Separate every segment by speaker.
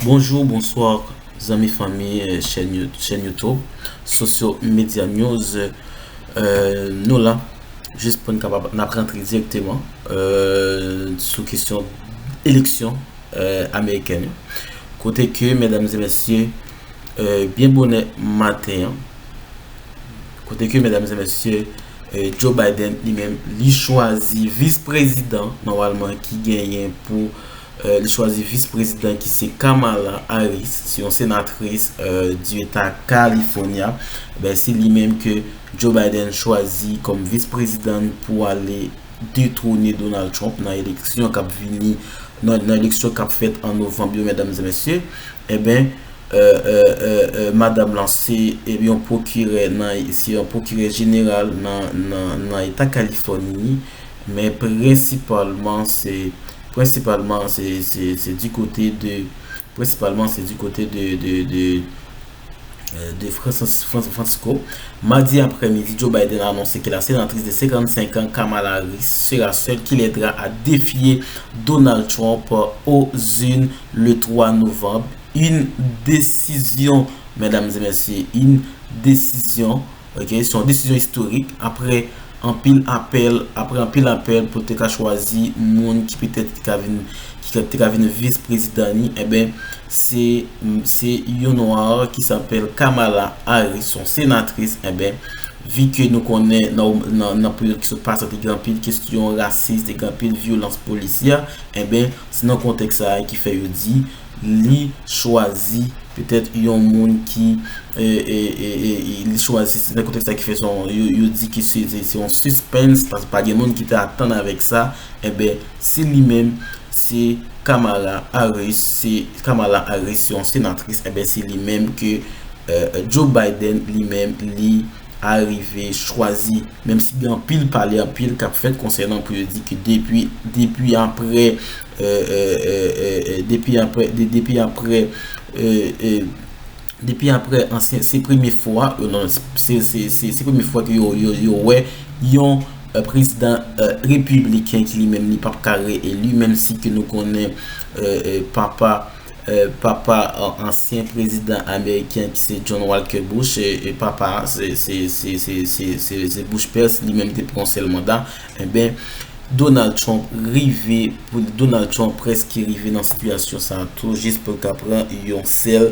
Speaker 1: Bonjour bonsoir zanmi fanmi chèn youtube sosyo medya news nou la jis pou n kapab n ap rantre direkteman sou kesyon eleksyon amerikèn yo kote ke mèdam zè mèsyè byen bonè maten Kote ke medam e mesye Joe Biden li menm li chwazi vis prezidan nòmalman ki genyen pou li chwazi vis prezidan ki se Kamala Harris se yon senatris di eta California ben se li menm ke Joe Biden chwazi kom vis prezidan pou ale detwone Donald Trump nan eleksyon kap vini nan eleksyon kap fèt an Novanb yo medam e mesye e ben euh madam lan se yon pwokirè nan se yon pwokirè jeneral nan eta kalifòni men prensipalman se prensipalman se se di kote de prensipalman se di kote de de de francisco madi aprè midi Joe Biden anonse ke la senatris de 55 an Kamala Harris sera sèl ki lèdra a defye Donald Trump o zin le 3 novanb Yn desizyon medam e mesye yn desizyon ok se yon desizyon istorik apre anpil apèl apre anpil apèl pou te ka chwazi moun ki petèt ki ka vin ki te ka vin vis prezidan li enben se se yon nwa ki sapèl kamala aris son senatris enben vi ke nou konnen nan nan peryòd ki sot pase te gen anpil kestyon rasis te gen anpil vyolans polisyè enben se nan kontèks sa ki fè yo di li chwazi petèt yon moun ki li chwazi se nan kontèks la ki fè son yo di ki se se yon sispens paske pa gen moun ki te atann avèk sa enben si li menm se Kamala Harris se Kamala Harris se yon senatris enben se li menm ke Joe Biden li menm li arive chwazi menm si gen anpil pale anpil kap fèt konsènan pou yo di ki depi depi aprè Depi aprè Depi aprè Depi aprè ansyen se premye fwa Se premye fwa ke yo wè Yon prezidan Repibliken ki li menm li pap ka re elu menm si ke nou konnen Papa Papa ansyen prezidan Ameriken ki se John Walker Bush Papa se Bush père li menm te pran yon sèl manda Enben, Donald Trump rive, Donald Trump preske rive nan sitiyasyon sa a tou, jis pou l ka pran yon sèl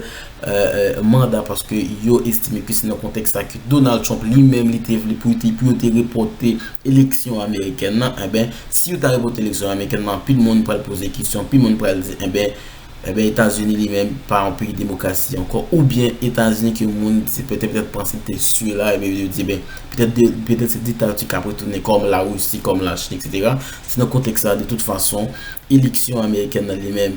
Speaker 1: manda, paske yo estime ke se nan kontèks sa ke Donald Trump li menm li te vle pou yo te repòte eleksyon amerikèn nan. Enben, si yo ta repòte eleksyon amerikèn nan, anpil moun pral poze kesyon, anpil moun pral di, enben, Enben Etazini li menm pa yon peyi demokrasi ankò oubyen Etazini ke moun se petèt petèt panse li te sye la epi yo di ben petèt de petèt se diktati kap retounen kòm la Russie kòm la Chine etc. Se nan kontèks sa de tout fason eleksyon amerikèn nan li menm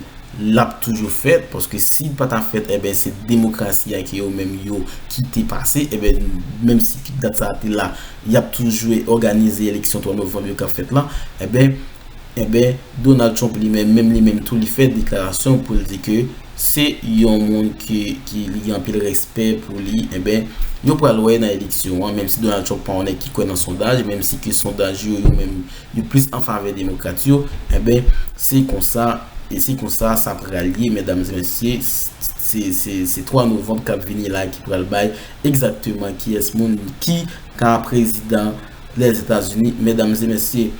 Speaker 1: lap toujou fèt paske si li pa ta fèt enben se demokrasi a ke yo menm yo kite pase enben menm si dat sa a te la yap toujou òganize eleksyon 3 novanm yo kap fèt la enben Enben, Donald Trump li menm, menm li menm tou li fè deklarasyon pou l di ke se yon moun ke ki li gen anpil respè pou li, enben yo pral wè nan eleksyon an, menm si Donald Trump pa yon nèg ki kwè nan sondaj, menm si ke sondaj yo yo menm yo plis an favè demokrat yo, enben se konsa, e se konsa sa pral ye medam e mesye, se, se, se 3 novanm kap vini la ki pral bay egzakteman kiyès moun ki ka prezidan. Lèzetazini, medam e mesye.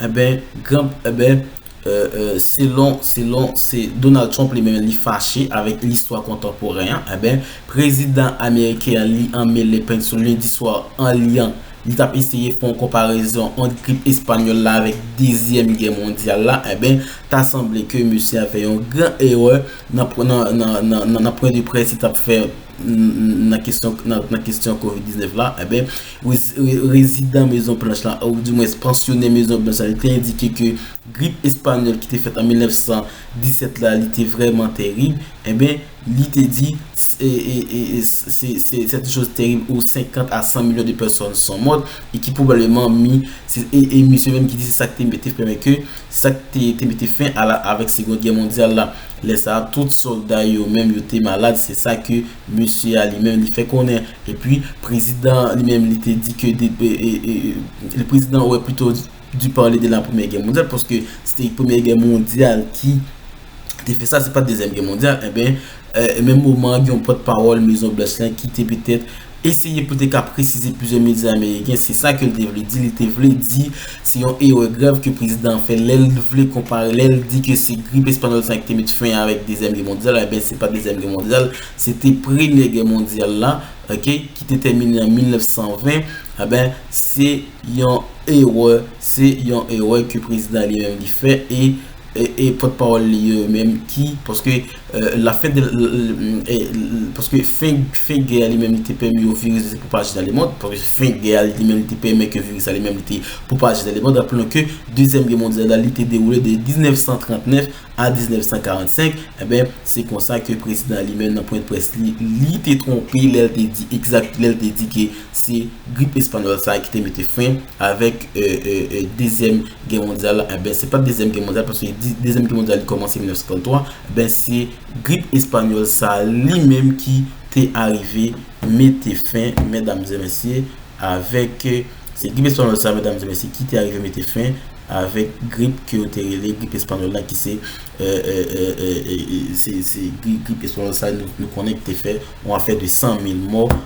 Speaker 1: Enben, gran, enben, e, e, selon, selon, se Donald Trump li menm li fache avèk listwa kontanporen an, enben, prezidan ameriken an li anmele peny sou lendi swa an li an, li t ap eseye fè yon konparezon ant grip espanyòl la avèk dezyèm gè mondyal la, enben, ta sanble ke mesye a fè yon gran erè nan, nan, nan, nan, nan pwen de près li t ap fè. nan kestyon covid 19 la, enben, rezidan Mezon Planch la, ou di mwen pansyonen Mezon Planch la, li te endike ke grip espanyòl ki te fèt an 1917 la, li te vreman terib, enben, li te di, se te chos terib ou 50 a 100 milyon de pèsòn son mòt, e ki pwobableman mi, e misye menm ki di se sa ki te mete fèmen ke, se sa ki te mete fèmen avèk segond gè mondyal la. Lè sa a, tout sòlda yo menm yo te malad, se sa ke mesye a li menm li fè konnen. Epi, prezidan an li menm li te di ke de, le prezidan ouè pito di parle de la premyè gè mondyal, paske se te premyè gè mondyal ki te fè sa, se pa dezyèm gè mondyal, enben, menm moman an gen yon pòt pawòl Mezon Blanch lan ki te petèt Eseye pou te ka presize plizyè medya ameriken se sa ke l te vle di, li te vle di se yon erè grav ke prezidan an fè lè l vle konpare, lè l di ke se grip espanyòl sa ki te met fen avèk dezyèm gè mondyal, enben se pa dezyèm gè mondyal, se te premyè gè mondyal la ok ki te tèmine an 1920, enben se yon erè, se yon erè ke prezidan an li menm li fè e pòtpawòl li yo menm ki paske. La fen de Paske fen gè a li menm li te pèmi yon viris de se pwopaje nan lemond Paske fen gè a li menm li te pèmen ke viris la li menm li te pwopaje nan lemond Rapelon ke Dezyèm Gè Mondyal la li te dewoule de 1939 a 1945 Enben se konsa ke prezidan li menm nan pwen de près li li te twonpe lè l te di egzat lè l te di ke se grip espanyòl sa a ki te mete fen avèk Dezyèm Gè mondyal la, enben se pat dezyèm gè mondyal paske yo di dezyèm gè mondyal li kòmanse 1933, enben se grip espanyòl sa li menm ki te arive mete fen mèdam zè mesye avèk se grip espanyòl sa mèdam zè mesye ki te arive mete fen avèk grip ke yo te rele grip espanyòl la ki se se grip espanyòl sa nou konnen ki te fè yon afè de 100 mil mò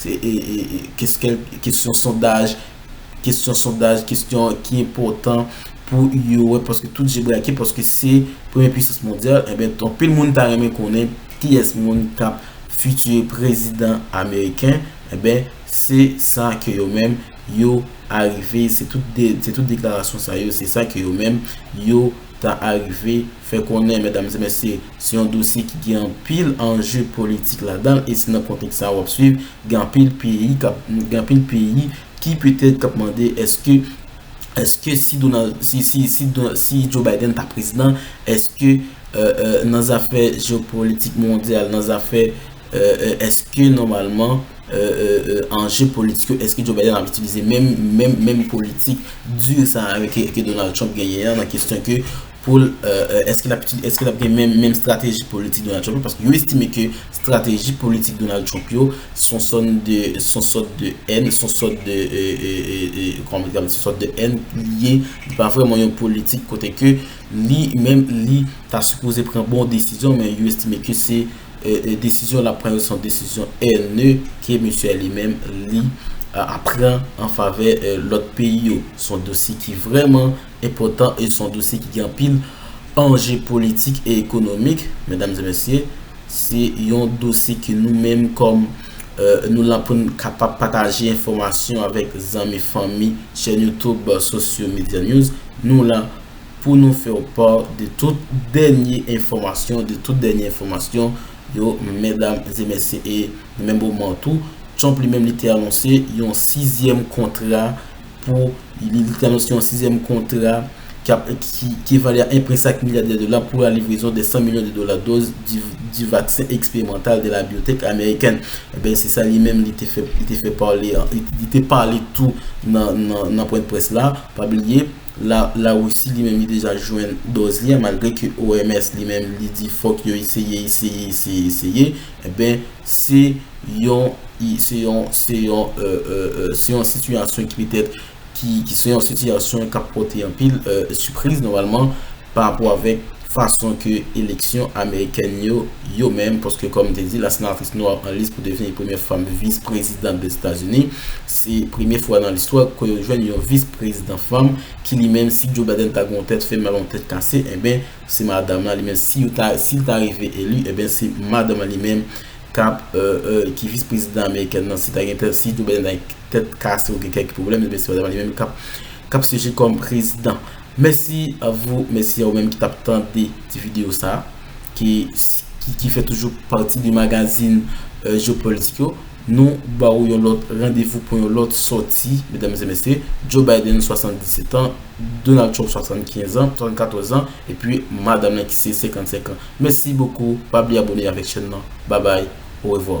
Speaker 1: Se kesyon sondaj, kesyon sondaj, kesyon ki enpotan pou yo wè paske tout je brake paske se premye pwisans mondyal. Enben, ton pil moun ta renmen konnen ki es moun kap fiti prezidan ameriken. Enben, se sa ke yo menm yo arive, se tout deklarasyon sa yo, se sa ke yo menm yo ta arive. fè konnen, medam e mesye, se yon dosye ki gen anpil anje politik ladan l e se nan kontèks sa a w ap swiv, gen anpil peyi k ap, gen anpil peyi ki petèt k ap mande èske, èske si Donald, si, si, si Don, si Joe Biden ta prezidan, èske nan zafè jeopolitik mondyal, nan zafè, èske nòmalman anje politik yo, èske Joe Biden ap itilize menm, menm, menm politik di sa a ke Donald Trump genyen an nan kesyon ke pou l èske l ap gen menm strateji politik Donald Trump yo paske yo estime ke strateji politik Donald Trump yo son sòn de son sòt de èn son sòt de kòman mwen te ka di son sòt de èn li ye li pa vrèman yon politik kote ke li menm li ta sipoze pran bon desizyon men yo estime ke se desizyon l ap pran yo son desizyon ènè ke misye li menm li ap pran an favè lòt peyi yo son dosye ki vrèman enpòtan e son dosye ki gen anpil anje politik e ekonomik medam e mesye se yon dosye ke nou menm kòm nou la poun kapab pataje enfòmasyon avèk zanmi fanmi chèn youtube sosyo medya news nou la pou nou fèw pa de tout dènye enfòmasyon de tout dènye enfòmasyon yo medam e mesye e nan menm moman tou trump li menm li te anonse yon 6 zièm kontra. pou li te anonse yon sizyèm kontra ki vale a 1,5 milya de dola pou la livrezon de 100 milyon de dola doz di vaksen eksperymantal de la biotech amerikèn. Enben, se sa li menm li te fè, li te fè pale, li te pale tou nan pwen de près la. Pa bliye, la Russie li menm li deja jwenn doz li a malgre ke OMS li menm li di fòk yo eseye, eseye, eseye, eseye. Enben, se yon, se yon, se yon, se yon sitiyasyon ki petèt, ki, ki se yon sitiyasyon k ap pòte anpil sipriz nòmalman parapò avèk fason ke eleksyon amerikèn yo, yo menm, paske kòm m te di, la senatris nwa an lis pou devni premyè fanm vis prezidant Dèzetazini, se premye fwa nan listwa ke yo jwenn yon vis prezidant fanm, ki li menm, si Joe Biden ta gen yon tèt fè mal, yon tèt kase, enben, Se madanm lan li menm si yo ta si li ta rive eli eben se madanm lan li menm kap ki vis prezidan amerikèn lan si ta gen tèt si Joe Biden ta gen tèt kase ou gen kèk pwoblèm eben se madanm lan li menm kap kap syeje kòm prezidan mèsi avou mèsi a ou menm ki tap tande ti video sa ki ki fè toujou pati de magazin Jeopolitik yo. Nou ba ou yon lòt randevou pou yon lòt sòti, medam e mesye, Joe Biden 77 an, Donald Trump 75 an, 74 an, epi madam nan ki se 55 an. Mèsi bokou, pa bliye abone avèk chèn nan. Babay, orevwa.